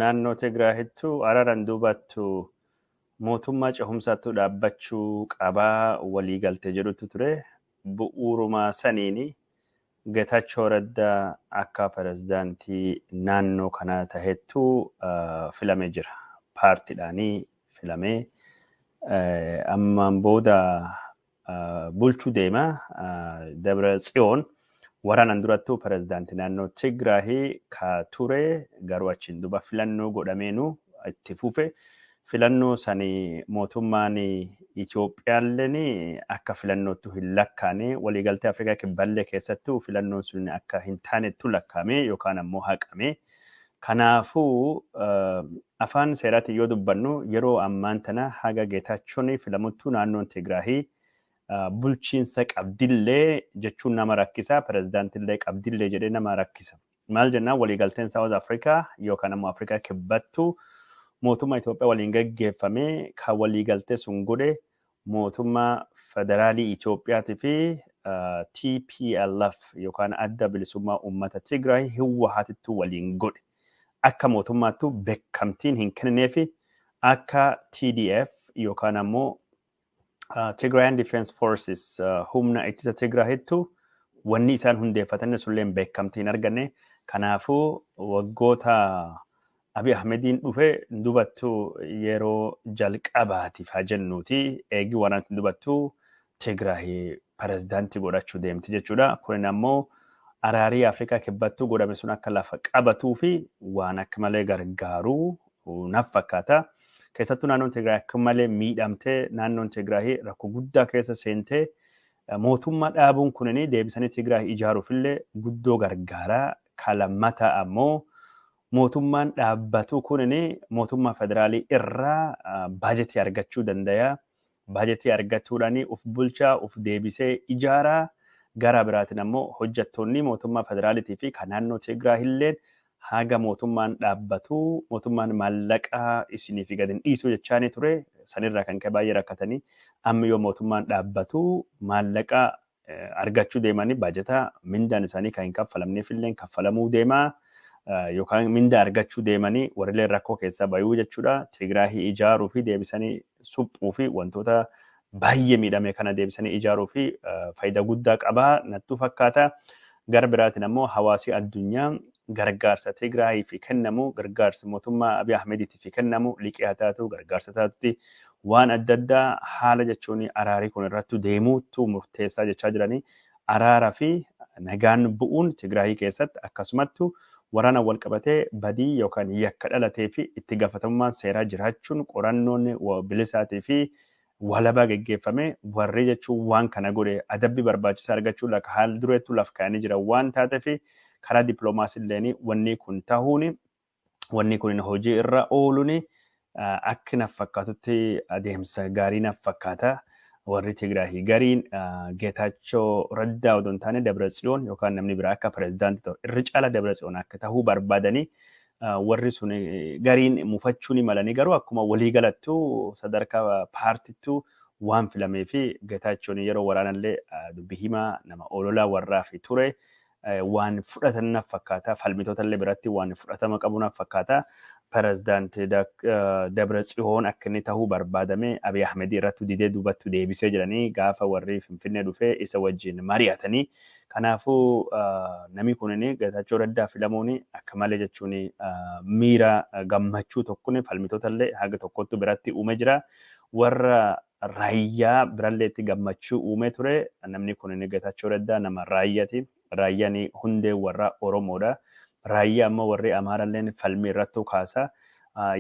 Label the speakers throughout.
Speaker 1: Naannoo Tigraahittu arara hin duubattu, mootummaa cehumsaattu dhaabbachuu qaba waliigalte jedhutu ture. Bu'uuruma saniin Getaachoo Radda akka pirezidaantii naannoo kanaa tahettu filame jira. Paartidhaanii filamee ammaan booda bulchu deema. Dabra Tsiyoon waraanaan durattuu pirezidaantii naannoo Tigraahi ka ture garuu achiin duuba filannoo godhameenu itti fufe. Filannoo sani mootummaan Itoophiyaalleen akka filannoottu hin lakkaane waliigaltee Afrikaa Kibballee keessattuu filannoon sun akka hin taanettu lakkaame yookaan ammoo haqame. Kanaafuu afaan seeraatiin yoo dubbannu yeroo ammaan tana haga Geetaachoon filamuttuu naannoon Tigraahi bulchiinsa qabdillee jechuun nama rakkisa, pirezidaantillee qabdillee jedhee nama rakkisa. Maal jennaan waliigalteen Saawuz Afrikaa yookaan ammoo Afrikaa kibbattu mootummaa Itoophiyaa waliin gaggeeffame kan waliigaltee sun godhe mootummaa Federaalii Itoophiyaatii fi tplf yookaan Adda Bilisummaa Uummata Tigraay Hiwwahaatittu waliin godhe akka mootummaattu bekkamtiin hin kennineefi akka TDF yookaan ammoo Tigraayan Defense Forces humna ittisa Tigraahittu wanni isaan hundeeffatanne sulleen bekkamtii hin arganne. Kanaafuu waggoota Abi Ahmediin dhufe hin dubattu yeroo jalqabaatiif haa jennuuti eegi waan ati hin dubattu Tigraay pirezidaantii godhachuu deemti jechuudha. Kunin ammoo araarii Afrikaa kibbattuu godhame sun akka lafa qabatuu fi waan akka malee gargaaru naaf fakkaata. Keessattuu naannoon Tigraay akka malee miidhamtee naannoon Tigraay rakkoo guddaa keessa seentee eh, mootummaa dhaabuun kunin deebisanii Tigraay ijaaruuf illee guddoo gargaara. Ka lammataa ammoo mootummaan dhaabbatu kun mootummaa federaalii irraa baajetii argachuu dandayaa. Baajetii argachuudhaan of bulchaa, of deebisee ijaaraa. Garaa biraatiin ammoo hojjettoonni mootummaa federaalitii fi kan naannoo Tigraay illeen haga mootummaan dhaabbatu mootummaan maallaqa isiniif gad hin dhiisu jechaanii ture. Sanirraa kan ka'e baay'ee rakkatanii amma yoo mootummaan dhaabbatu maallaqa argachuu deemanii baajata mindaan isaanii kan hin kaffalamneef illee kaffalamuu deemaa yookaan mindaa argachuu deemanii warrilee rakkoo keessaa bayuu jechuudha. Tigraahii ijaaruu fi deebisanii suphuu fi wantoota baay'ee miidhame kana deebisanii ijaaruu fi faayidaa guddaa qabaa nattuu fakkaata. Gara biraatiin ammoo hawaasii addunyaa gargaarsa Tigraahiif kennamu gargaarsi mootummaa Abiy Ahmediitiif kennamu liqii haa taatu gargaarsa taatutti Waan adda addaa haala jechuun araarii kun irrattu deemuuttu murteessaa jechaa jiranii araara fi nagaan bu'uun Tigraayii keessatti akkasumattu waraanaan walqabatee badii yookaan yakka dhalatee fi itti gaafatamummaan seeraa jiraachuun qorannoon bilisaatii fi walabaa geggeeffamee warrii jechuun waan kana godhe adabbi barbaachisaa argachuu laka haal dureettu laf kaayanii jiran waan taatefi karaa dippiloomaasiin illeen wannii kun tahuun wanni kunin hojii irra ooluni akki naf fakkaatutti adeemsa gaarii naf fakkaata. Warri Tigraahii gariin Geetaachoo Raddaa odoo hin taane Dabra Tsiyoon yookaan namni biraa akka pirezidaanti ta'u irri caala Dabra Tsiyoon akka ta'uu barbaadanii warri sun gariin mufachuu ni malanii garuu akkuma walii galattu sadarkaa paartittuu waan filamee fi Geetaachoon yeroo waraanallee dubbi himaa nama oololaa warraa fi ture waan fudhatan naf fakkaata falmitoota illee biratti waan fudhatama qabu naf fakkaata pirezidaant Dabra Tsihoon akka inni tahuu barbaadame Abiy Ahmedii irratti didee duubattu deebisee jedhanii gaafa warri Finfinnee dhufee isa wajjin mari'atanii kanaafuu namni kunin Getaachoo Raddaa filamuun akka malee jechuun miira gammachuu tokkoon falmitoota illee haga tokkottu biratti uume jira warra Raayyaa biralleetti gammachuu uumee ture. Namni kunini Getachoo Reddaa nama Raayyati. Raayyani hundee warra Oromoodha. Raayyaa ammoo warri Amaaralleen falmii irrattuu kaasa.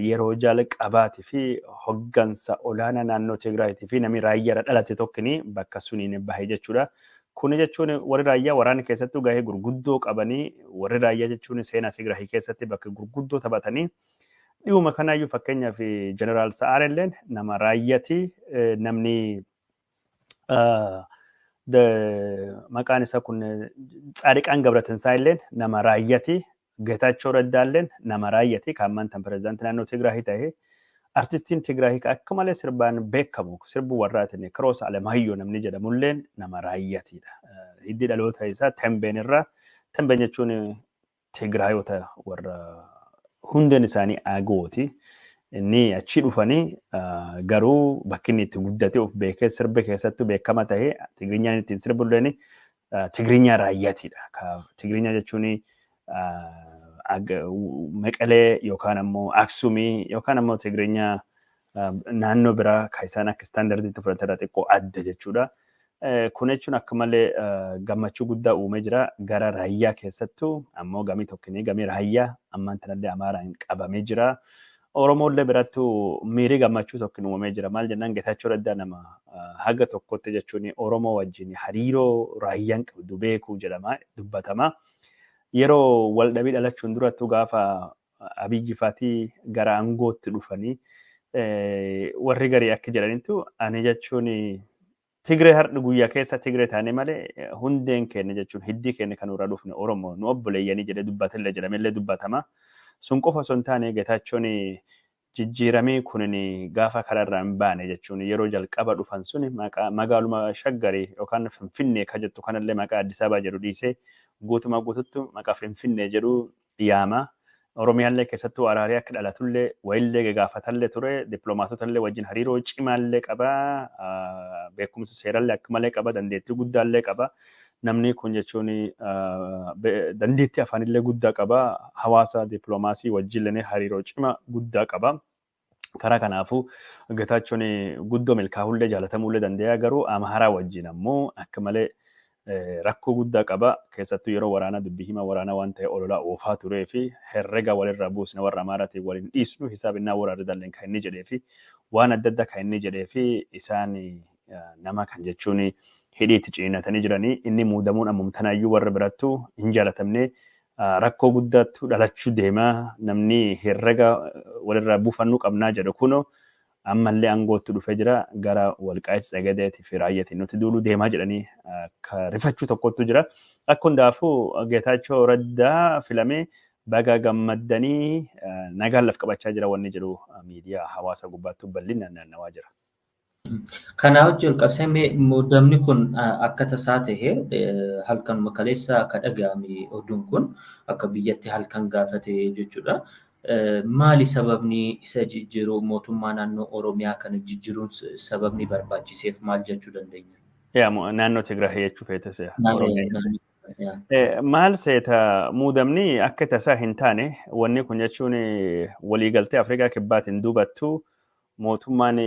Speaker 1: Yeroo jalqabaatifi hoggansa olaanaa naannoo Tigraayiitifi nami Raayyaarra dhalate tokkini bakka suniin bahe jechuudha. Kuni jechuun warri Raayyaa waraana keessattuu gahee gurguddoo qabani. Warri Raayyaa jechuun seenaa Tigraayi keessatti bakka gurguddoo taphatani. Dhiyuma kanaayyuu fakkeenyaaf Jeneraal Sa'aar illeen nama raayyati namni maqaan isaa kun Tsaadiqaan Gabratinsaa illeen nama raayyati Getaachoo Raddaa illeen nama raayyati kan ammaan tan pirezidaantii naannoo Tigraahii ta'e artistiin Tigraahii akka malee sirbaan beekamu sirbu warraatiin Kiroos Alemaayyo namni jedhamu illeen nama raayyatidha. Hiddi dhaloota isaa Tembeen irraa Tembeen jechuun Tigraayota warra hundeen isaanii Agooti. Inni achi dhufanii garuu bakki inni itti guddate of beekee sirbi keessattuu beekama ta'e Tigrinyaan ittiin sirbu illee Tigrinyaa raayyaatiidha. Tigrinyaa jechuun Meqalee yookaan ammoo Aksumii yookaan ammoo Tigrinyaa naannoo biraa kan isaan akka istaandardiitti fudhatan irraa xiqqoo adda jechuudha. Kun jechuun akka malee gammachuu guddaa uumee jira. Gara raayyaa keessattuu ammoo gamii tokkinii gamii raayyaa ammaan tanallee amaaraan qabamee jira. Oromoollee birattuu miirii gammachuu tokkin uumamee jira. Maal jennaan Getaachoo Raddaa nama haga tokkotti jechuun Oromoo wajjin hariiroo raayyaan qabdu beekuu jedhama dubbatama. Yeroo waldhabii dhalachuun durattuu gaafa Abiyyi faati gara angootti dhufanii warri garii akka jedhanitti ani jechuun Tigree hardhi guyyaa keessa Tigree taane malee hundeen keenya jechuun hiddii keenya kan irraa dhufne Oromoo nu obboleeyyanii jedhee dubbatillee jedhamellee dubbatama. Sun qofa osoo hin taane Getaachoon Jijjiiramii kunini gaafa kara irraa hin baane jechuun yeroo jalqaba dhufan suni maqaa magaaluma shaggari yookaan finfinnee ka jettu kanallee maqaa Addisababa jedhu dhiisee guutuma guututtu maqa finfinnee jedhu yaama. Oromiyaallee keessattuu araarii akka dhalatullee wayillee gagaafatallee ture diplomaatotallee wajjin hariiroo cimaallee qaba beekumsa seerallee akka malee qaba dandeettii guddaallee qaba Namnii kun jechuun dandeettii afaanillee guddaa qaba. Hawaasa dippiloomaasii wajjillee hariiroo cima guddaa qaba. Karaa kanaafuu Getaachoon guddoo milkaa'ullee jaalatamuullee danda'a garuu Amaaraa wajjin ammoo akka malee rakkoo guddaa qaba. Keessattuu yeroo waraanaa dubbii himaa waraanaa waan ta'e ololaa oofaa turee fi herrega walirraa buusna warra Amaaraatiin wal hin dhiisnu hisaabinnaa waraarridalleen kan inni jedhee fi waan adda addaa kan inni jedhee fi isaan nama kan jechuun hidhii itti ciniinatanii jiranii inni muudamuun ammum tanaayyuu warra birattu hin jaalatamne rakkoo guddaattu dhalachuu deema namni herrega walirraa buufannuu qabnaa jedhu kuno ammallee aangootti dhufee jira gara walqaayit tsagadeeti fi raayyatiin nuti duuluu deemaa jedhanii akka rifachuu tokkottu jira akka hundaafuu geetaachoo raddaa filamee baga gammaddanii nagaan laf qabachaa jira wanni jedhu miidiyaa hawaasa gubbaattu bal'inaan naannawaa jira. Kanaa
Speaker 2: wajjin walqabsee mee muudamni kun akka tasaa ta'e halkanuma kaleessa akka dhaga'ame oduun kun akka biyyatti halkan gaafa ta'e jechuudha. Maali sababni isa jijjiiru mootummaa naannoo Oromiyaa kana jijjiiruun sababni barbaachiseef maal jechuu dandeenya? Yaa mo- naannoo
Speaker 1: Tigraay jechuu feete se'a. Oromiyaa. Naannoo- yaa. Eh, Maal seeta muudamni akka tasaa hin taane wanni kun jechuun eh, waliigaltee Afrikaa Kibbaatiin duubattu Mootummaan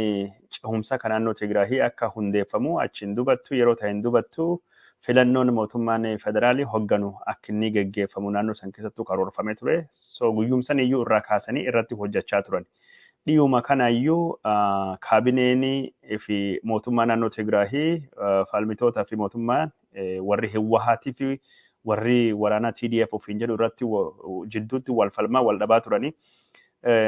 Speaker 1: cehumsa ka naannoo Tigraahii akka hundeeffamu achiin dubattu yeroo tahen dubattu filannoon mootummaan federaalii hogganu akkinnii geggeeffamu naannoo san keessattuu karoorfamee ture. So guyyum san iyyuu irraa kaasanii irratti hojjachaa turan. Dhiyuma kana iyyuu kaabineen fi mootummaa naannoo Tigraahii faalmitoota fi mootummaan warri Hiwwahaatii fi warri waraanaa TDF ofiin jedhu irratti jidduutti wal falmaa wal dhabaa turanii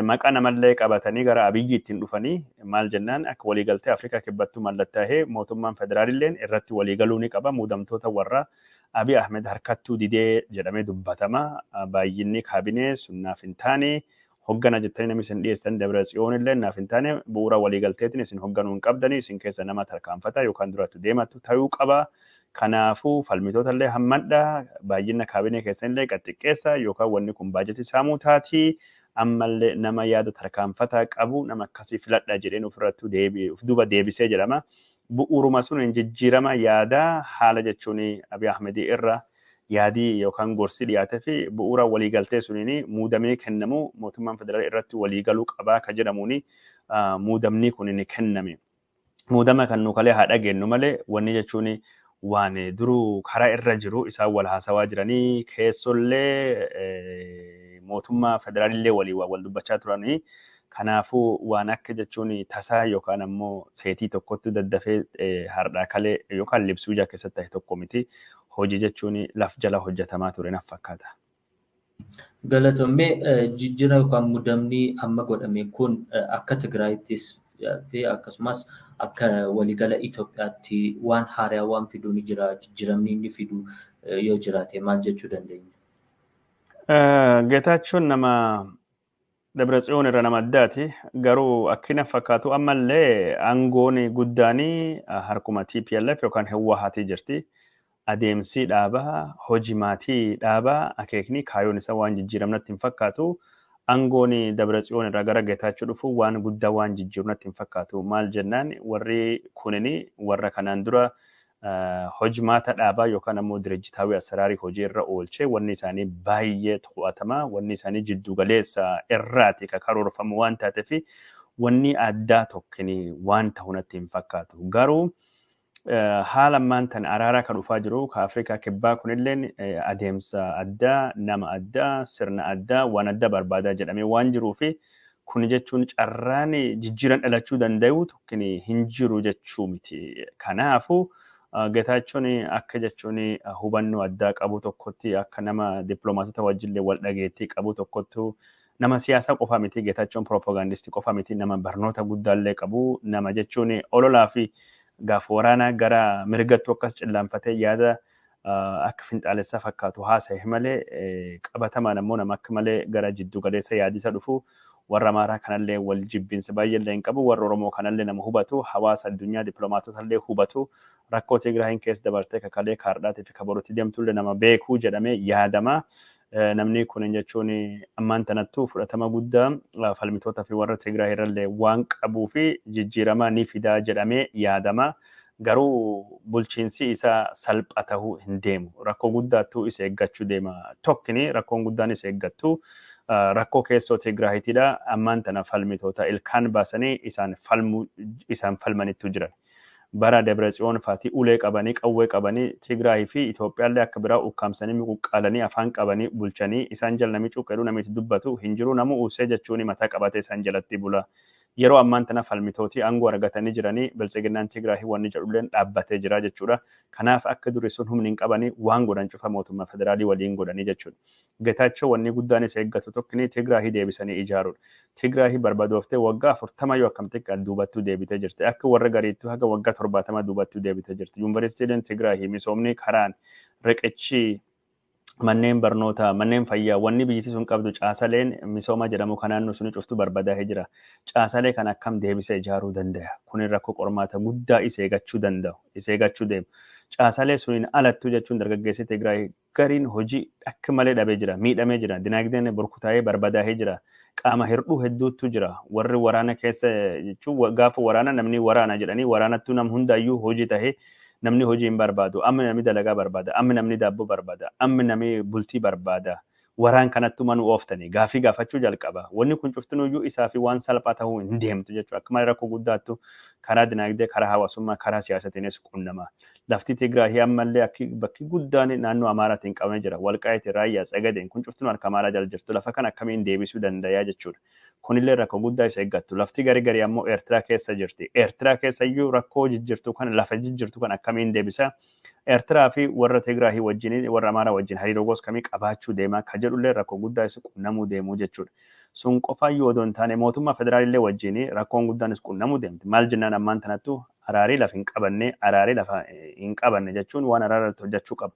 Speaker 1: maqaa namallee qabatanii gara Abiyyi ittiin dhufanii maal jennaan akka waliigaltee Afrikaa kibbattuu mallattaa'ee mootummaan federaalilleen irratti waliigaluu ni qaba muudamtoota warra Abiy Ahmed harkattuu didee jedhamee dubbatama baay'inni kaabinee sunnaaf hin taane hoggana jettanii namni isin dhiyeessan Dabratsiyoon illee naaf hin taane bu'uura waliigalteetiin isin hogganuu hin qabdanii isin keessa nama tarkaanfata yookaan duratti deematu ta'uu qaba. Kanaafuu falmitoota illee hammadha baay'ina kaabinee keessan illee gad xiqqeessa yookaan wanni kun baajetii saamuu taati ammallee nama yaada tarkaanfataa qabu nama akkasii filadha jedheen ofirrattuu deebi of duuba deebisee jedhama. Bu'uuruma suniin jijjiirama yaadaa haala jechuun Abiy Ahmedii irra yaadii yookaan gorsi dhiyaatefi bu'uura waliigaltee suniin muudamii kennamu mootummaan federala irratti waliigaluu qabaa ka jedhamuun muudamnii kuniin kenname. Muudama kan nu kalee haa dhageennu malee wanni jechuun waan duruu kara irra jiru isaan wal haasawaa jiranii keessollee mootummaa federaalillee waliin waan wal dubbachaa turanii kanaafuu waan akka jechuun tasaa yookaan ammoo seetii tokkotti daddafee hardhaa kalee yookaan libsuu ijaa keessatti ta'e tokko miti hojii jechuun laf jala hojjetamaa ture naf fakkaata. Galatoom mee
Speaker 2: jijjira yookaan mudamni amma godhame kun akka Tigraayittis fi akkasumas akka waligala Itoophiyaatti waan haaraa waan fidu ni jira jijjiramni inni fidu yoo jiraate maal jechuu dandeenya?
Speaker 1: Getaachoon nama Dabratsiyoon irra nama addaati. Garuu akkina fakkaatu ammallee aangoon guddaan harkuma TPLF yookaan Hewwahaatii jirti. Adeemsii dhaabaa, hojimaatii dhaabaa, akeeknii kaayoon isa waan jijjiiram natti hin fakkaatu. Aangoon Dabratsiyoon irraa gara Getaachoo dhufu waan guddaa waan jijjiiru natti hin fakkaatu. Maal jennaan warri kunini warra kanaan dura hojmaata dhaabaa yookaan ammoo dirajjitaawii asaraarii hojii irra oolchee wanni isaanii baay'ee to'atamaa wanni isaanii jiddu galeessa irraati ka karoorfamu waan taateef wanni addaa tokkini waan ta'u natti hin fakkaatu. Garuu haala ammaan tan araaraa ka dhufaa jiru ka Afrikaa kibbaa kunilleen adeemsa addaa nama addaa sirna addaa waan addaa barbaadaa jedhamee waan jiruu fi Kun jechuun carraan jijjiiran dhalachuu danda'u tokkin hin jiru jechuu miti. Kanaafu Getaachoon akka jechuun hubannoo addaa qabu tokkotti akka nama dippiloomaatota wajjillee wal dhageettii qabu tokkottu nama siyaasaa qofa miti Getaachoon piroopagaandistii qofa miti nama barnoota guddaallee qabu nama jechuun ololaa fi gaaf waraanaa gara mirgattuu akkas cillaanfatee yaada akka finxaalessaa fakkaatu haasa'e malee qabatamaan ammoo nama akka malee gara jiddu galeessa yaadisa dhufu warra Amaaraa kanallee wal jibbinsa baay'eellee hin qabu warra Oromoo kanallee nama hubatu hawaasa addunyaa diplomaatotallee hubatu rakkoo Tigraayin keessa dabartee kakalee kaardhaatii fi kaborutti deemtullee nama beekuu jedhamee yaadama Namni kun jechuun ammaan tanattuu fudhatama guddaa falmitootaa fi warra Tigraay irrallee waan qabuu fi jijjiiramaa ni fidaa jedhamee yaadama. Garuu bulchiinsii isaa salpha tahuu hin deemu. Rakkoo guddaattuu isa eeggachuu deema. Tokkini rakkoon guddaan isa eeggattu rakkoo keessoo Tigraahitidha. Ammaan tana falmitoota ilkaan baasanii isaan falmu isaan falmanittuu jiran. Bara Debretsiyoon faati ulee qabanii, qawwee qabanii Tigraay fi Itoophiyaallee akka biraa ukkaamsanii muquqqaalanii afaan qabanii bulchanii isaan jala nami cuqqe jedhu nami itti dubbatu hin jiru namuu uussee jechuun mataa qabatee isaan jalatti bula. Yeroo ammaan tana falmitootii aangoo argatanii jiranii Biltsiginnaan Tigraay wanni jedhulleen dhaabbatee jira jechuudha. Kanaaf akka durii sun humni hin qabanii waan godhan cufa mootummaa federaalii waliin godhanii jechuudha. Getaachow wannii guddaan isa eggatu tokkinii Tigraahi deebisanii ijaaruudha. Tigraahi barbadooftee waggaa 40 yoo akkam xiqqaat duubattuu deebitee jirti. Akka warra gariittuu haga waggaa 70 duubattuu deebitee jirti. Yuunvaristiileen Tigraahi, misoomnii, karaan, riqichii, manneen barnootaa, manneen fayyaa, wannii biyyiti sun qabdu caasaleen misoomaa jedhamuu ka naannoo sunii cuftuu barbadaahe jira. Caasalee kana akkam deebisee ijaaruu dandaya? Kuni rakko qormaata guddaa isa eegachuu dandau, isa eegachuu deemu. Caasalee suniin alattuu jechuun dargaggeessi Tigraahi gariin hojii akk malee dhabee jira, miidhamee jira, dinaagdeen burkutaa'ee barbadaahee jira, qaama hirdhuu hedduuttu jira, warri waraana keessa jechuun wa- gaafa waraana namni waraana jedhanii waraanattuu nam hundaayyuu hojii tahee namni hojii hin barbaadu, amma namni dalagaa barbaada, amma namni daabboo barbaada, amma namni bultii barbaada, waraan kanattu manu ooftanii gaafii gaafachuu jalqaba. Wanni kun cuftinuyyuu isaa fi waan salphaa tahuu hin deemtu jechuudha. Akka malee rakkoo guddaattu karaa dinaagdee, karaa hawaasummaa, karaa siyaasatiinis qunnama. Lafti Tigraahii ammallee akki bakki guddaan naannoo Amaaraatiin qabamee jira. Walqaayiti, Raayyaa, Tsegadeen kun cuftinuu harka Amaaraa jala jirtu. Lafa kana akkamiin deebisuu dandayaa jechuudha. Kunillee rakko guddaa isa eggattu. Lafti gari gari ammoo Eertiraa keessa jirti. Eertiraa keessayyuu rakkoo jijjirtu kana lafa jijjirtu kana akkamiin deebisa? Eertiraa fi warra Tigraahii wajjin warra Amaaraa wajjin hariiroo goos kamii qabaachuu deema ka jedhullee rakko guddaa isa qunnamuu deemuu jechuudha. Sun qofaayyuu odoo hin taane mootummaa federaalillee wajjiin rakkoon guddaan is qunnamuu deemti. Maal jennaan ammaan tanattu araarii laf hin qabanne, araarii lafa hin qabanne jechuun waan araara irratti hojjachuu qaba.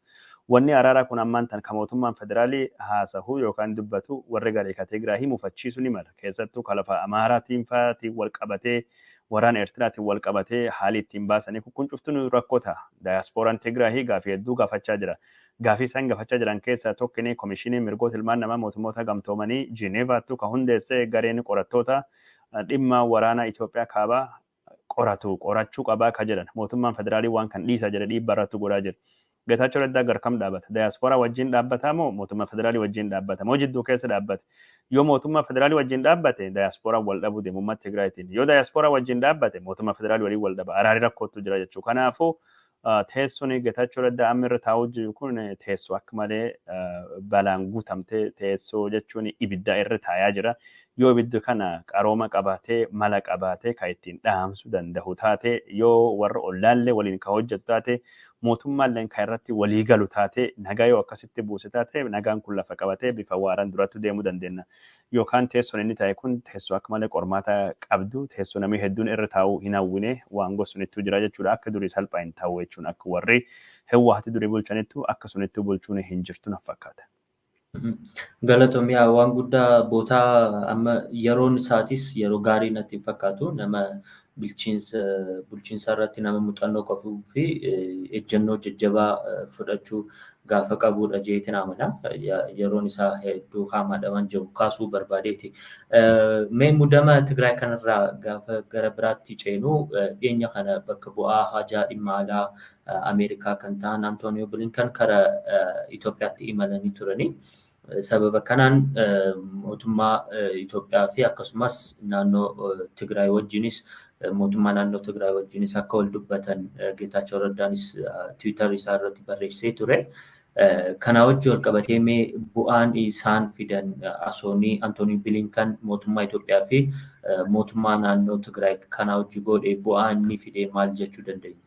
Speaker 1: Wanni araaraa kun ammaan tan ka mootummaan federaalii haasahu yookaan dubbatu warri garii ka Tigraayii mufachiisu ni mala. Keessattuu ka lafa Amaaraatiin fa'aatiin wal qabatee waraana Eertiraatiin wal qabatee haali ittiin baasanii kun kun cuftinuu rakkoo ta'a. Daayaaspooraan Tigraayii gaafii hedduu gaafachaa jira. Gaafii isaan gafachaa jiran keessaa tokkini Komishiinii Mirgoota Ilmaan Namaa Mootummoota Gamtoomanii Jineevaattu ka hundeesse gareen qorattoota dhimma waraana Itoophiyaa Kaabaa qoratu qorachuu qabaa ka jedhan. Mootummaan Federaalii waan kan dhiisaa jedhe dhiibbaa irrattu godhaa jira. Getaachoo Reddaa gar kam dhaabata? Dayaaspooraa wajjiin dhaabbataa moo Mootummaa Federaalii wajjiin dhaabbata? Moo jidduu keessa dhaabbate? Yoo Mootummaa Federaalii wajjiin dhaabbate Dayaaspooraan wal dhabuu deema Ummata Tigraayitiin. Yoo Dayaaspooraa wajjiin dhaabbate Mootummaa Federaalii waliin wal dhaba. Araari rakkoottu jira jechuu. Kanaafuu Teessoon Getaachoo Raddaa amma irra taa'uu jiru kun teessoo akka malee balaan guutamte teessoo jechuun ibidda irra taayaa jira. Yoo ibidda kana qarooma qabaatee mala qabaatee kan ittiin dhaamsu danda'u taate yoo warra ollaallee waliin kan hojjetu taate mootummaalleen kan irratti walii galu taate nagaa yoo akkasitti buuse taate nagaan kun lafa qabatee bifa waaraan durattu deemuu dandeenya. Yookaan teessoon inni taa'e kun teessoo akka malee qormaata qabdu, teessoo namni hedduun irra taa'uu hin hawwine, waan gossunittuu jira jechuudha, akka durii salphaa hin taa'u jechuun akka warri Hiwwaahati durii bulchanittu akka sunittuu bulchuun hin jirtu naf fakkaata.
Speaker 2: Galatomi yaa waan guddaa bootaa amma yeroon isaatis yeroo gaarii natti hin fakkaatu nama bilchiinsa bulchiinsaa irratti nama muuxannoo qabuu fi ejjennoo jajjabaa fudhachuu gaafa qabuudha jeetiin amana. Yeroon isaa hedduu haamaadha waan jiru kaasuu barbaadeeti. Mee mudama Tigraay kanarraa gaafa gara biraatti ceenu dhiyeenya kana bakka bu'aa haajaa dhimma alaa Ameerikaa kan ta'an Antooniyoo Bilinkan kara Itoophiyaatti imalanii turanii. Sababa kanaan mootummaa Itoophiyaa fi akkasumas naannoo Tigraay wajjinis mootummaa naannoo Tigraay wajjinis akka wal dubbatan Geetaachoo Raddaanis Tiwiitar isaa irratti barreessee ture. Kanaa wajjin wal qabatee mee bu'aan isaan fidan asoonii Antoonii Bilinkan mootummaa Itoophiyaa fi mootummaa naannoo Tigraay kanaa wajjin godhe bu'aa inni fide maal jechuu dandeenya?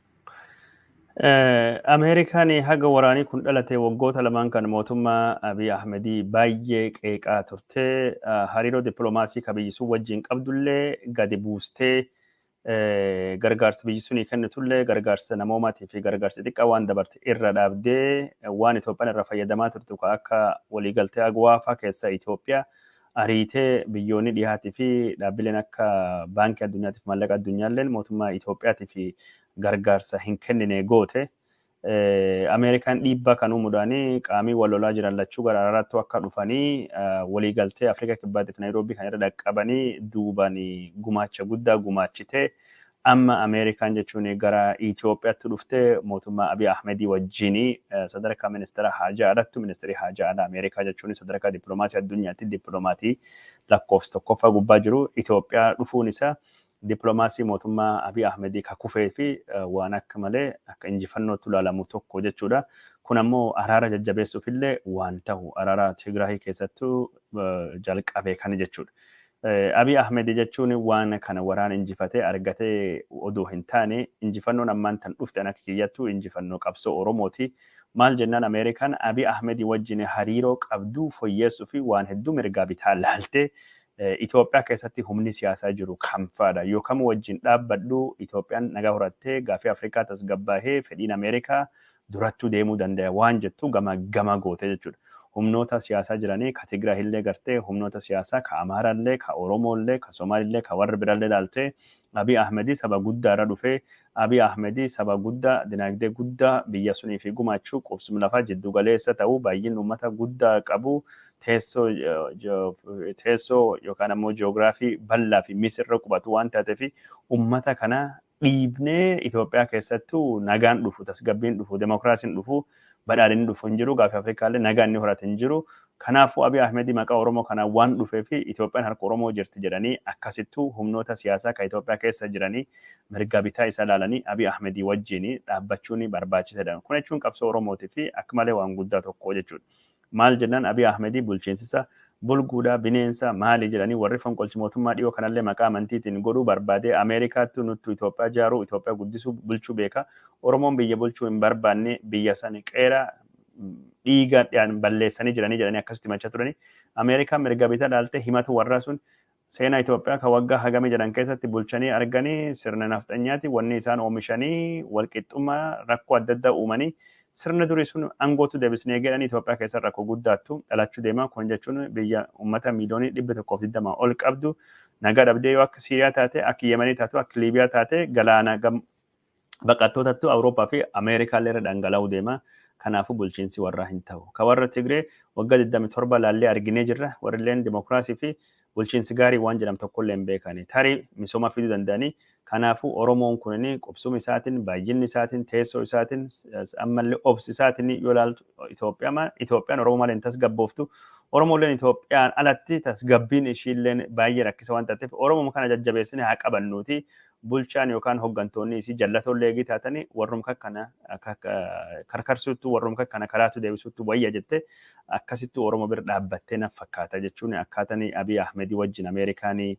Speaker 1: Ameerikaan haga waraanii kun dhalate waggoota lamaan kan mootummaa Abiy Ahmedii baay'ee qeeqaa turte. Hariiroo dippiloomaasii ka biyyi sun wajjin qabdullee gadi buustee gargaarsa biyyi sunii kennitullee gargaarsa namoomaatii fi gargaarsa xiqqaa waan dabarte irra dhaabdee waan Itoophiyaan irra fayyadamaa turtu ka akka waliigaltee Agwaafaa keessaa Itoophiyaa ariitee biyyoonni dhihaatii fi dhaabbileen akka baankii addunyaatiif maallaqa addunyaalleen mootummaa Itoophiyaatiif gargaarsa hin kennine goote. Ameerikaan dhiibbaa kan uumuudhaan qaamii wal lolaa jiran lachuu gara araaraattuu akka dhufanii waliigaltee Afrikaa Kibbaatiif Naayiroobii kan irra dhaqqabanii duubaan gumaacha guddaa gumaachite. Amma Ameerikaan jechuun gara Itiyoophiyaatti dhuftee mootummaa Abiy Ahmedii wajjin sadarkaa ministeera haajaa alattu ministeerii haajaa alaa Ameerikaa jechuun sadarkaa dippiloomaasii addunyaatti dippilomaatii lakkoofsa tokkoffaa gubbaa jiru Itiyoophiyaa dhufuun isaa dippiloomaasii mootummaa Abiy Ahmedii ka kufee fi waan akka malee akka injifannootti ilaalamu tokko jechuudha. Kun ammoo araara jajjabeessuuf illee waan tahu araara Tigraahii keessattuu jalqabe kana jechuudha. Abiy Ahmed jechuun waan kana waraana injifatee argate odoo hin taane injifannoon ammaan tan dhufte an akka kiyyattu injifannoo qabsoo Oromooti. Maal jennaan Ameerikaan Abiy Ahmed wajjin hariiroo qabdu foyyeessuuf waan hedduu mirgaa bitaa laalte. Itoophiyaa keessatti humni siyaasaa jiru kamfaadha? Yoo kam wajjin dhaabbadhu Itoophiyaan nagaa horattee, gaaffii Afrikaa tasgabbaahee, fedhiin Ameerikaa durattuu deemuu dandaya waan jettu gama gama gootee jechuudha. Humnoota siyaasaa jiranii ka Tigraay illee gartee humnoota siyaasaa ka Amaara illee ka Oromoo illee ka Somaali illee ka warra bira illee laaltee Abiy Ahmedii saba guddaa irra dhufee Abiy Ahmedii saba guddaa dinaagdee guddaa biyya sunii fi gumaachuu qubsum lafaa jidduu galeessa ta'uu baay'in uummata guddaa qabu teessoo teessoo yookaan ammoo ji'oogiraafii bal'aa fi misirra qubatu waan taateef uummata kana dhiibnee Itoophiyaa keessattuu nagaan dhufu, tasgabbiin dhufu, demokraasiin dhufu, badhaadhinni dhufu hin jiru. Gaaffii Afrikaa illee nagaa inni horate hin jiru. Kanaafuu Abiy Ahmed maqaa Oromoo kanaan waan dhufee fi Itoophiyaan harka Oromoo jirti jedhanii akkasittuu humnoota siyaasaa kan Itoophiyaa keessa jiranii mirga bitaa isa ilaalanii Abiy Ahmed wajjin dhaabbachuun barbaachisaadha. Kun jechuun qabsoo Oromootii fi akka malee waan guddaa tokko jechuudha. Maal jennaan Abiy Ahmedii bulchiinsisa bulguudha, bineensa, maali jedhanii warri fonqolchi mootummaa dhiyoo kanallee maqaa amantiitiin godhuu barbaadee Ameerikaattu nuttu Itoophiyaa jaaruu, Itoophiyaa guddisuu, bulchuu beeka. Oromoon biyya bulchuu hin barbaanne biyya san qeera dhiiga dhaan balleessanii jiranii jedhanii akkasitti himachaa turanii. Ameerikaan mirga bita laaltee himatu warraa sun Seena Itoophiyaa ka waggaa hagamii jedhan keessatti bulchanii argani sirna nafxanyaati wanni isaan oomishanii walqixxummaa rakkoo adda addaa uumanii sirna durii sun angootu debisne eegeedhan Itoophiyaa keessa rakko guddaattu dhalachuu deema kun jechuun biyya ummata miiliyoonii 120 ol qabdu nagaa dhabdee yoo akka Siiriyaa taate akka Yemenii taatu akka Liibiyaa taate galaana baqattootattu Awurooppaa fi Ameerikaa illee irra dhangala'uu deema. Kanaafuu bulchiinsi warraa hin ta'u. Ka warra Tigree waggaa 27 laallee arginee jirra. Warri illeen dimokiraasii fi bulchiinsi gaarii waan jedhamu tokko illee hin beekani. Tarii misooma fiduu danda'anii. Kanaafuu Oromoon kunin qubsuma isaatiin, baay'inni isaatiin, teessoo isaatiin, ammallee obsi isaatiin yoo ilaaltu Itoophiyaan Oromoo malee hin tasgabbooftu. Oromoo illeen Itoophiyaan alatti tasgabbiin ishii illeen baay'ee rakkisa waan taateef Oromoo kana jajjabeessinee haa qabannuuti. bulchaan yookaan hoggantoonni isii jallatoollee eegii taatanii warrum kakkana karkarsuuttu warrum kakkana karaatu deebisuuttu wayya jette akkasittu Oromo bir dhaabbattee naf fakkaata jechuun akkaatanii Abiy Ahmedii wajjin Ameerikaanii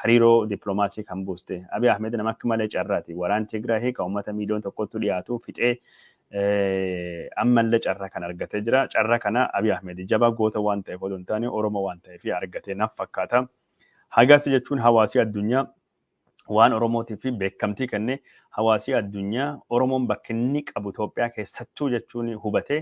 Speaker 1: hariiroo dippiloomaasii kan buuste. Abiy Ahmed nama akka malee carraati. Waraan Tigraahii kan uummata miiliyoon tokkotti dhiyaatu fixee ammallee carraa kan argatee jira. Carraa kana Abiy Ahmed jabaa goota waan ta'eef odoo hin taane Oromo waan ta'eef argatee naf fakkaata. Hagasi jechuun hawaasii addunyaa waan Oromootiif fi beekamtii kennee hawaasii addunyaa Oromoon bakka inni qabu Itoophiyaa keessattuu jechuun hubatee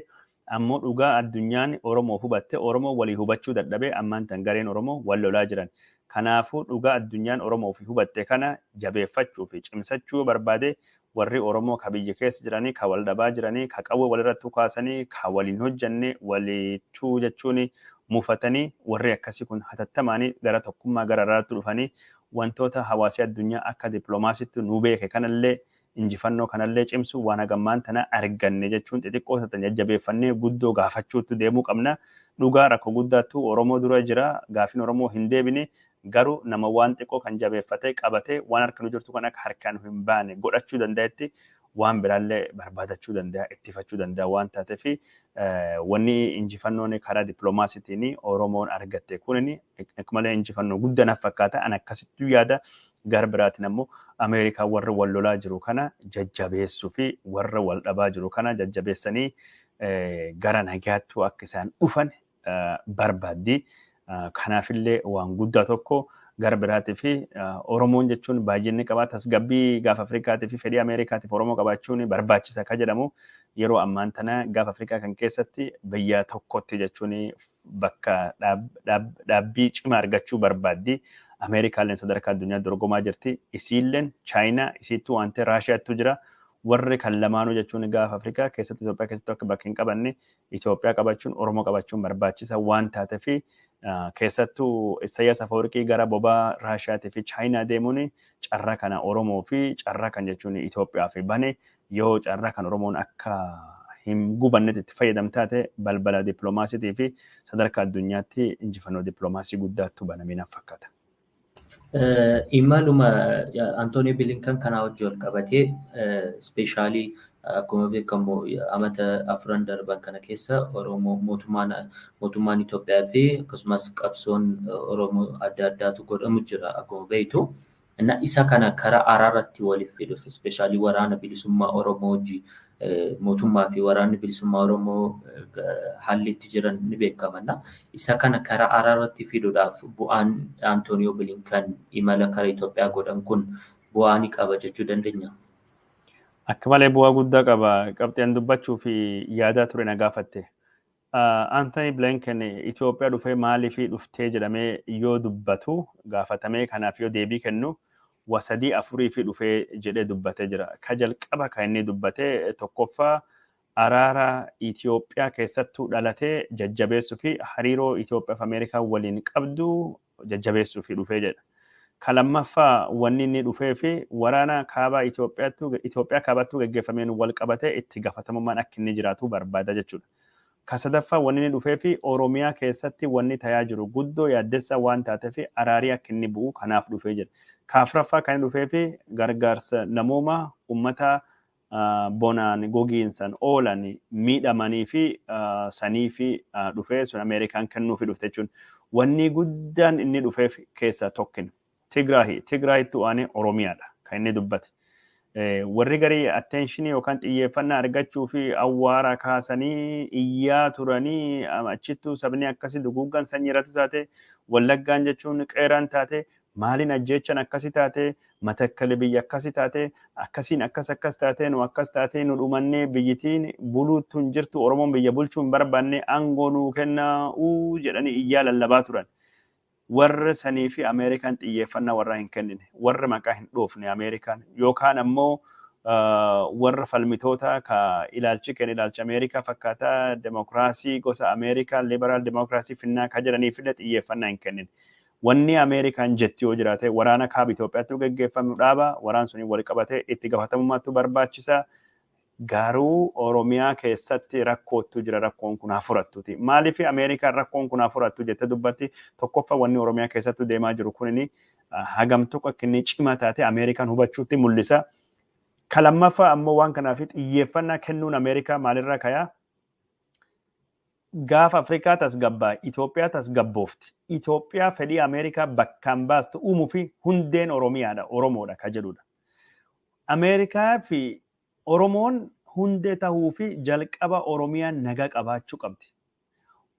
Speaker 1: ammoo dhugaa addunyaan Oromoof hubatte Oromoo walii hubachuu dadhabee ammaan tan gareen Oromoo wal lolaa jiran. Kanaafuu dhugaa addunyaan Oromoof hubatte kana jabeeffachuu fi cimsachuu yoo barbaade Warri Oromoo ka biyya keessa jiranii, ka wal dhabaa jiranii, ka qawwee wal irratti dhukaasanii, ka wal hin hojjanne, waliichuu jechuun mufatanii, warri akkasii kun hatattamaan gara tokkummaa, gara araaraatti dhufanii wantoota hawaasi addunyaa akka diplomaasiitti nu beeke kanallee, injifannoo kanallee cimsu waan haga ammaan tana arganne jechuun xixiqqoo tatan jajjabeeffannee guddoo gaafachuuttu deemuu qabna. Dhugaa rakko guddaattu Oromoo dura jira. Gaafin Oromoo hin deebine. Garuu nama waan xiqqoo kan jabeeffatee, qabatee, waan harka nu jirtu kan akka harkaa nu hin baane godhachuu danda'etti waan biraallee barbaadachuu danda'a, ittifachuu danda'a waan taateef wanni injifannoon karaa dippiloomaasiitiin Oromoon argatte kunin akka malee injifannoo guddaa naf fakkaata. An akkasittuu yaada. Gara biraatiin ammoo Ameerikaa warra wal lolaa jiru kana jajjabeessuu fi warra wal dhabaa jiru kana jajjabeessanii gara nagaattuu akka isaan dhufan barbaaddi. Kanaafillee waan guddaa tokko gara biraatii fi Oromoon jechuun baay'inni qabaa tasgabbii gaafa Afrikaatii fi fedhii Ameerikaatiif Oromoo qabaachuun barbaachisa akka jedhamu yeroo ammaan tana gaafa Afrikaa kan keessatti biyya tokkotti jechuun bakka dhaabbii cimaa argachuu barbaaddi. Ameerikaalleen sadarkaa addunyaa dorgomaa jirti. Isiilleen Chaayinaa isiittuu waan ta'e Raashiyaattuu jira. Warri kan lamaanuu jechuun gaafa Afrikaa keessatti Itoophiyaa keessatti akka bakka hin qabanne Itoophiyaa qabachuun Oromoo qabachuun barbaachisa waan taatefi keessattuu Isayyaas Afawarqii gara bobaa Raashiyaatii fi Chaayinaa deemuun carraa kana Oromoo fi carraa kan jechuun Itoophiyaa fi bane yoo carraa kan Oromoon akka hin gubannetti itti fayyadam taate balbala dippiloomaasiitii fi sadarkaa addunyaatti injifannoo dippiloomaasii guddaattu banamee naf fakkaata. Imaluma
Speaker 2: Antoonii Bilinkan kanaa wajji wal qabatee ispeeshaalii akkuma beekamu amata afran darban kana keessa Oromoo mootummaan mootummaan Itoophiyaa fi akkasumas qabsoon Oromoo adda addaatu godhamu jira akkuma beektu. Isa kana karaa araarratti waliif fiduuf ispeeshaalii waraana bilisummaa Oromoo wajji mootummaa fi waraanni bilisummaa Oromoo haalli itti jiran ni beekamanna. Isa kana karaa araarratti fiduudhaaf bu'aan Antooniyoo Bilinkan imala kara Itoophiyaa godhan kun bu'aa ni qaba jechuu dandeenya?
Speaker 1: Akka malee bu'aa guddaa qaba. Qabxii an dubbachuu fi yaadaa ture na gaafatte. Anthony Blinken Itoophiyaa dhufee maaliif dhuftee jedhamee yoo dubbatu gaafatamee kanaaf yoo deebii kennu wa sadii afuriif dhufee jedhee dubbatee jira. Ka jalqaba kan inni dubbate tokkoffaa araara Itoophiyaa keessattuu dhalatee jajjabeessuu fi hariiroo Itoophiyaa fi Ameerikaa waliin qabdu jajjabeessuuf dhufee jedha. Ka lammaffaa wanni inni dhufee fi waraana kaabaa Itoophiyaattuu Itoophiyaa kaabaattuu gaggeeffameen wal qabatee itti gafatamummaan akka inni jiraatu barbaada jechuudha. Ka sadaffaa wanni inni dhufee fi Oromiyaa keessatti wanni tayaa jiru guddoo yaaddessaa waan taatee fi araarii akka inni bu'u kanaaf dhufee jedha. Ka afraffaa kan inni dhufee fi gargaarsa namoomaa ummata bonaan gogiinsan oolan miidhamanii fi sanii fi dhufee sun Ameerikaan kennuufi dhufte jechuun wanni guddaan inni dhufeef keessaa tokkin Tigraahi. Tigraahitti waanee Oromiyaadha kan inni dubbate. Warri garii atteenshinii yookaan xiyyeeffannaa argachuu fi awwaara kaasanii iyyaa turanii achittuu sabni akkasii duguuggan sanyii irratti taate wallaggaan jechuun qeeraan taate Maaliin ajjeechan akkasi taate matakkali biyya akkasi taate akkasiin akkas akkas taate nu akkas taate nu dhumannee biyyitiin buluuttu hin jirtu oromoon biyya bulchuu hin barbaanne aangoo nuu kennaa uu jedhanii iyyaa lallabaa turan. Warri sanii fi Ameerikaan xiyyeeffannaa warraa hin kennine warri maqaa hin dhoofne Ameerikaan yookaan ammoo warra falmitoota ka ilaalchi kenna ilaalcha Ameerikaa fakkaataa demokiraasii gosa Ameerikaa liberaal demokiraasii finnaa ka jedhaniif illee xiyyeeffannaa hin kennine. Wanni Ameerikaan jetti yoo jiraate waraana kaaba Itoophiyaattu geggeeffamu dhaaba, waraan suniin wal qabatee itti gafatamummaattu barbaachisa, garuu Oromiyaa keessatti rakkoottu jira rakkoon kun haa furattuti. Maaliif Ameerikaan rakkoon kun haa furattu jette dubbatti? Tokkoffa wanni Oromiyaa keessattu deemaa jiru kunini hagam tokko akka inni cima taate Ameerikaan hubachuutti mul'isa. Ka lammaffaa ammoo waan kanaaf xiyyeeffannaa kennuun Ameerikaa maalirraa kayaa? Gaafa Afrikaa tasgabbaa'e Itoophiyaa tasgabboofti. Itoophiyaa fedhii Ameerikaa bakkaan baastu uumufi hundeen Oromiyaadha, Oromoodha ka jedhudha. Ameerikaa fi Oromoon hundee tahuufi jalqaba Oromiyaan nagaa qabaachuu qabdi.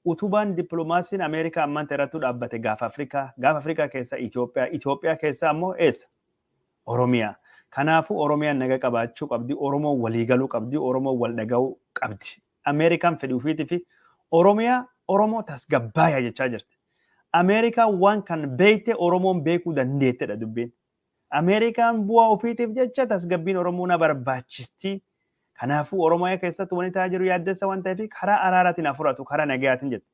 Speaker 1: Utubaan diplomaasiin Ameerikaa ammaan irrattuu dhaabbate Gaafa Afrikaa. Gaafa Afrikaa keessaa Itoophiyaa. Itoophiyaa keessaa ammoo eessa? Oromiyaa. Kanaafuu Oromiyaan nagaa qabaachuu qabdi, Oromoon walii galuu qabdi, Oromoon wal dhagahuu qabdi. Ameerikaan fedhi ufiitii fi Oromiyaa Oromoo tasgabbaaya jechaa jirti. Ameerikaan waan kan beeyte Oromoon beekuu dandeettedha dubbiin. Ameerikaan bu'aa ufiitiif jecha tasgabbiin Oromoo na barbaachistii. Kanaafuu Oromiyaa keessatti wanti ta'aa jiru yaaddessa waan ta'eef karaa araaraatiin haa furatu, karaa nagayaatiin jette.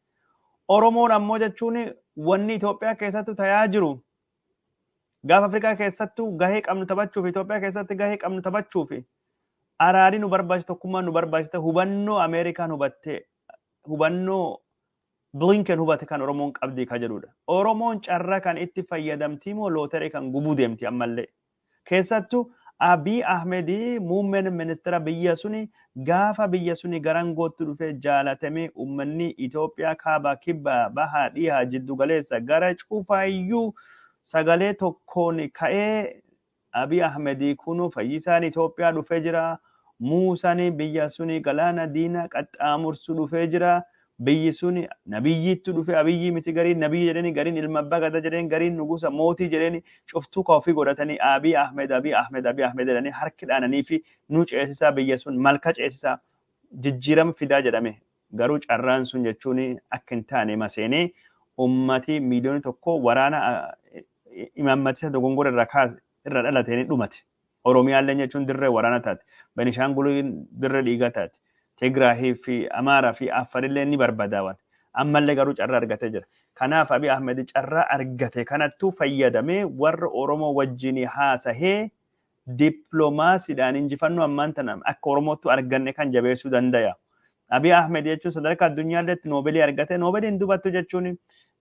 Speaker 1: Oromoon ammoo jechuun wanni Itoophiyaa keessatti ta'aa jiru Gaafa Afrikaa keessattuu gahee qabnu taphachuuf Itoophiyaa keessatti gahee qabnu taphachuuf araadii nu barbaachisa tokkummaan nu barbaachisa hubannoo Ameerikaan hubattee hubannoo Blinken hubate kan Oromoon qabdi ka jedhudha. Oromoon carra kan itti fayyadamtii moo looteree kan gubuu deemti ammallee Keessattu Abiy Ahmed muummen ministera biyya suni gaafa biyya suni garangootti dhufe jaalatame ummanni Itoophiyaa kaaba kibba baha dhiha jiddu galeessa gara cufa iyyuu sagalee tokkoon ka'ee Abiy Ahmed kunu fayyisaan Itoophiyaa dhufe jira muusan biyya suni galaana diina qaxxaamursu dhufe jira Biyyi suni nabiyyiittu dhufe abiyyii miti gariin nabiyyi jedheni gariin ilma abbaa gadaa jedheni gariin nugusa mootii jedheni cuftuu ka ofii godhatanii Abiy Ahmed Abiy Ahmed Abiy Ahmed jedhanii harki dhaananiifi nu ceesisaa biyya sun malka ceesisaa jijjiirama fidaa jedhame garuu carraan sun jechuun akka hin taane hima seenee ummati miiliyooni tokko waraana imaammatisa dogongora irraa kaase irraa dhalateen dhumate. Oromiyaallee jechuun dirree waraana taate. Benishaanguliin dirree dhiigaa taate. Tigraahii fi Amaaraa fi Affarillee ni barbadaawan. Ammallee garuu carraa argatee jira. Kanaaf Abiy Ahmed carraa argate kanattuu fayyadamee warra Oromoo wajjin haasahee dippiloomaasiidhaan injifannoo ammaan tana akka Oromoottuu arganne kan jabeessuu dandaya. Abiy Ahmed jechuun sadarkaa addunyaarratti noobeelii argate noobeeliin dubattu jechuun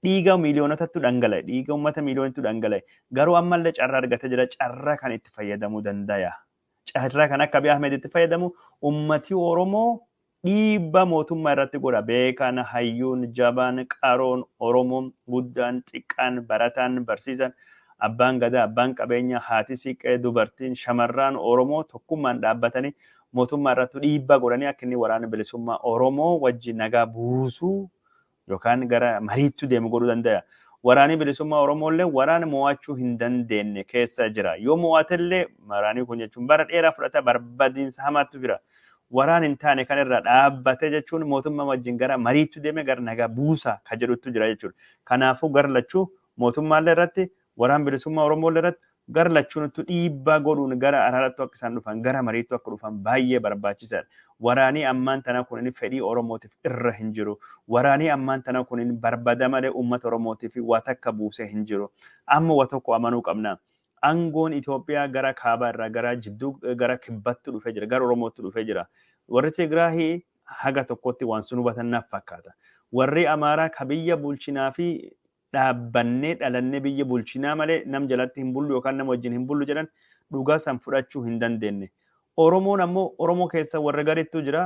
Speaker 1: dhiiga miiliyoonotatti dhangala'e dhiiga uummata miiliyoonitti dhangala'e garuu ammallee carra argate jira carra kan itti fayyadamuu dandaya. Carra kan akka Abiy Ahmed itti fayyadamu uummati Oromoo dhiibba mootummaa irratti godha beekan hayyuun jabaan qaroon Oromoo guddaan xiqqaan barataan barsiisan abbaan gadaa abbaan qabeenya haati siiqqee dubartiin shamarraan Oromoo tokkummaan dhaabbatanii mootummaa irrattu dhiibbaa godhanii akka inni waraana bilisummaa Oromoo wajji nagaa buusuu yookaan gara mariittu deemu godhuu dandaya. Waraanii bilisummaa Oromoo illee waraana mo'achuu hin dandeenne keessa jira. Yoo mo'ate illee waraanii kun jechuun bara dheeraa fudhata barbadiinsa hamaattu jira. Waraan hin taane kan irraa dhaabbate jechuun mootummaa wajjin gara mariittu deeme gara nagaa buusa ka jedhuttu jira jechuudha. Kanaafuu gar lachuu mootummaa illee irratti Waraan Bilisummaa Oromoo irratti gara lachuunittu dhiibbaa godhuun gara araarattu akka isaan dhufan, gara mariittu akka dhufan baay'ee barbaachisaadha. Waraanii ammaan tanaa kunin fedhii Oromootiif irra hin jiru. Waraanii ammaan tanaa kunin barbada malee uummata Oromootiif waa takka buusee hin jiru. Amma wa tokko amanuu qabna. Angoon Itoophiyaa gara kaabaa irraa gara jidduu gara kibbattu dhufee jira, gara Oromoottu dhufee jira. Warri Tigraahi haga tokkotti waan sun hubatan naf fakkaata. Warri Amaaraa ka biyya bulchinaa fi dhaabbannee dhalannee biyya bulchinaa malee nam jalatti hin bullu yookaan nama wajjin hin bullu jedhan dhugaa san fudhachuu hin dandeenne. Oromoon ammoo Oromoo keessa warra garittu jira.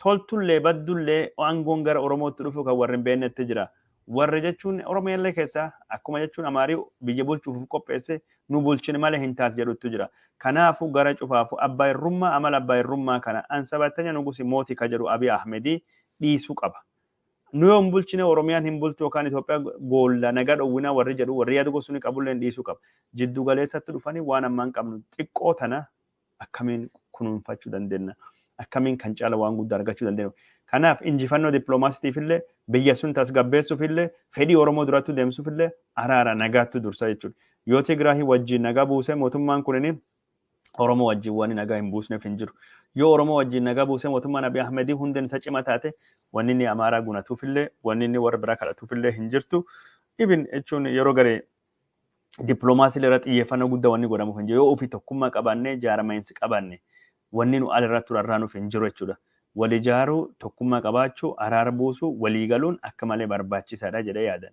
Speaker 1: Toltullee baddullee aangoon gara Oromootti dhufu kan warri hin beennetti jira. Warra jechuun Oromiyallee keessa akkuma jechuun Amaarii biyya bulchuuf of qopheesse nu bulchin malee hin taatu jedhuttu jira. Kanaafuu gara cufaafu abbaa irrummaa amala abbaa irrummaa kana ansabattanya nugusi mooti ka jedhu Abiy Ahmedii dhiisuu qaba. Nu yoo hin bulchine Oromiyaan hin bultu yookaan Itoophiyaa goolla nagaa dhowwina warri jedhu warri yaada gosa suni qabulleen dhiisuu qaba. Jiddu galeessatti dhufanii waan ammaan qabnu xiqqoo tana akkamiin kunuunfachuu dandenna? Akkamiin kan caala waan guddaa argachuu dandenna? Kanaaf injifannoo dippiloomaasitiifillee biyya sun tasgabbeessuufillee fedhii Oromoo durattuu deemsuufillee araara nagaattu dursa jechuudha. Yoo Tigraahii wajjin nagaa buusee mootummaan kunini Oromoo wajjin wanni nagaa hin buusneef hin jiru. Yoo Oromoo wajjin nagaa buusee mootummaan Abiy Ahmedii hundeen isa cima taate wanni inni Amaaraa gunatuufillee wanni inni warra biraa kadhatuufillee hin jirtu. Even jechuun yeroo garee dippiloomaasii irra xiyyeeffannoo guddaa wanni godhamuuf hin jiru. Yoo ofii tokkummaa qabaannee jaarama'iinsi qabaanne wanni nu al irratti irraa nuuf hin jiru jechuudha. Wal ijaaruu, tokkummaa qabaachuu, araara buusuu, walii galuun akka malee barbaachisaadha jedhee yaadan.